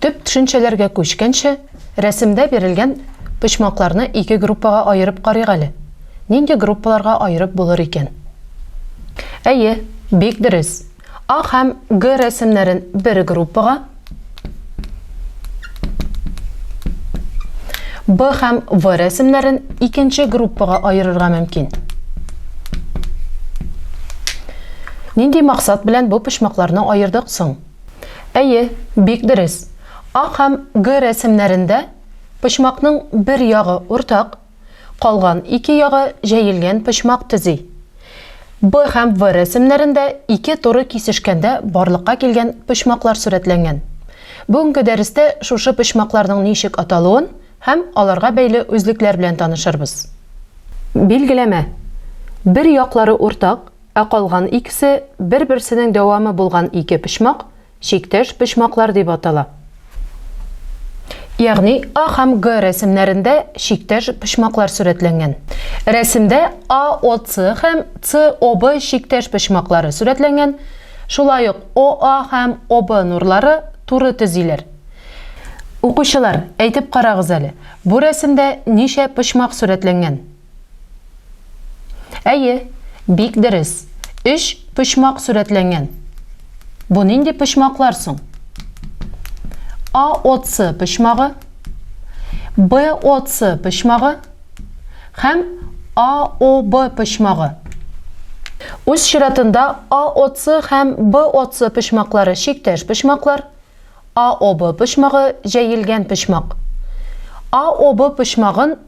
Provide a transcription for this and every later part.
Төп төшенчәләргә күчкәнче, рәсемдә бирелгән почмакларны ике группага аерып карыйк әле. Нинди группаларга аерып булыр икән? Әйе, бик дөрес, А һәм Г рәсемнәрен бер группага, Б һәм В рәсемнәрен икенче группага аерырга мөмкин. Нинди максат белән бу почмакларны аердык соң? Әйе, бик дөрес. А һәм Г рәсемнәрендә почмакның бер ягы уртак, калган ике ягы җәелгән почмак төзи. Б һәм В рәсемнәрендә ике туры кисешкәндә барлыкка килгән почмаклар сурәтләнгән. Бүгенге дәрестә шушы почмакларның ничек аталуын һәм аларга бәйле үзлекләр белән танышырбыз. Билгеләмә. Бер яклары уртак. Ә калган икесе, бер-берсенең дәвамы булган ике почмак, чиктәш почмаклар дип атала. Ягъни А һәм Г рәсемнәрендә чиктәш почмаклар сурәтләнгән. Рәсемдә АОЦ һәм СОБ чиктәш почмаклары сурәтләнгән, шулай ук ОА һәм ОБ нурлары туры төзиләр. Укучылар, әйтеп карагыз әле, бу рәсемдә ничә почмак сурәтләнгән? Әйе, бик дөрес. Өч почмак сурәтләнгән. Бу нинди почмаклар соң? А ОЦ почмагы, Б ОЦ почмагы һәм А ОБ почмагы. Үз чиратында А ОЦ һәм Б ОЦ почмаклары чиктәш почмаклар. А ОБ почмагы җәелгән почмак. А ОБ почмагын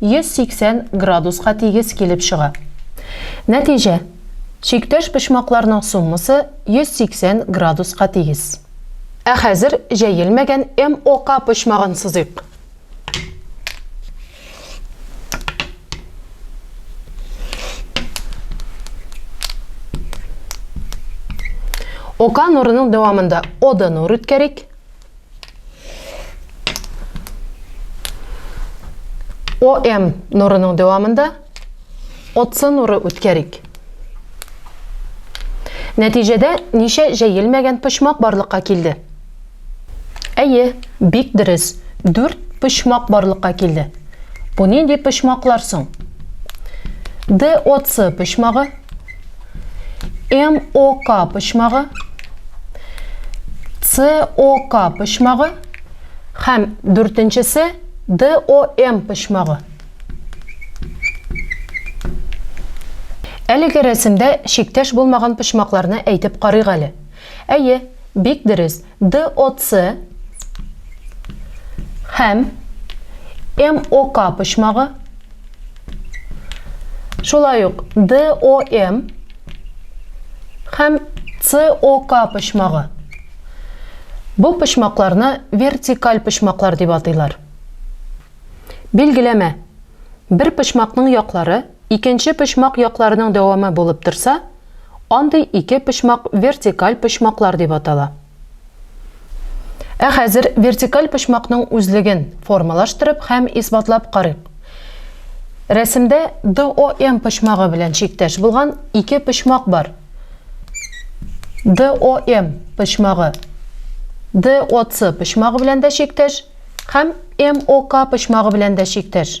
180 градуска тигез килеп чыга. Нәтиҗә, чиктәш почмакларның суммасы 180 градуска тигез. Ә хәзер җәелмәгән MOK почмагын сызыйк. OK нурының дәвамында OD нур үткәрик. ОМ нурының дәвамында отсы нуры үткәрик. Нәтиҗәдә ничә җәелмәгән почмак барлыкка килде? Әйе, бик дөрес, дүрт почмак барлыкка килде. Бу нинди почмаклар соң? Д отсы почмагы, МОК почмагы, СОК почмагы һәм дүртенчесе ДОМ почмагы. Әлеге рәсемдә чиктәш булмаган почмакларны әйтеп карыйк әле. Әйе, бик дөрес. DOC һәм MOK почмагы, шулай ук DOM һәм COK почмагы. Бу почмакларны вертикаль почмаклар дип атыйлар. Билгеләмә. Бер почмакның яклары икенче почмак якларының дәвамы булып торса, Андый ике почмак вертикаль почмаклар дип атала. Ә хәзер вертикаль почмакның үзлеген формалаштырып һәм исбатлап карыйк. Рәсемдә DOM почмагы белән чиктәш булган ике почмак бар. DOM почмагы DOC почмагы белән дә чиктәш һәм MOK почмагы белән дә чиктәш.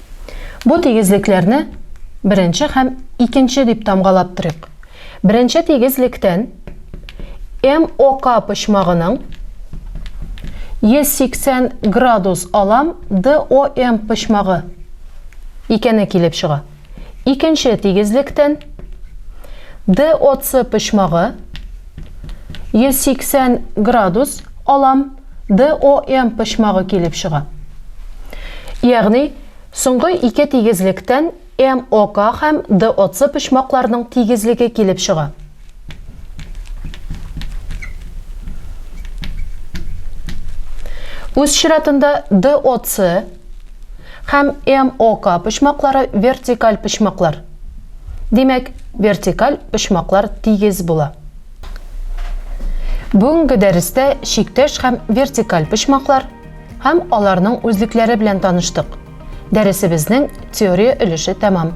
Бу тигезлекләрне беренче һәм икенче дип тамгалап торыйк. Беренче тигезлектән МОК почмагының 180 градус алам ДОМ почмагы икәне килеп чыга. Икенче тигезлектән ДОЦ почмагы 180 градус алам DOM почмагы килеп чыга. Ягъни, соңгы ике тигезлектән MOK һәм DOC почмакларның тигезлеге килеп чыга. Үз чиратында DOC һәм MOK почмаклары вертикаль почмаклар. Димәк, вертикаль почмаклар тигез була. Бүгенге дәрестә чиктәш һәм вертикаль почмаклар һәм аларның үзлекләре белән таныштык. Дәресебезнең теория өлеше тәмам.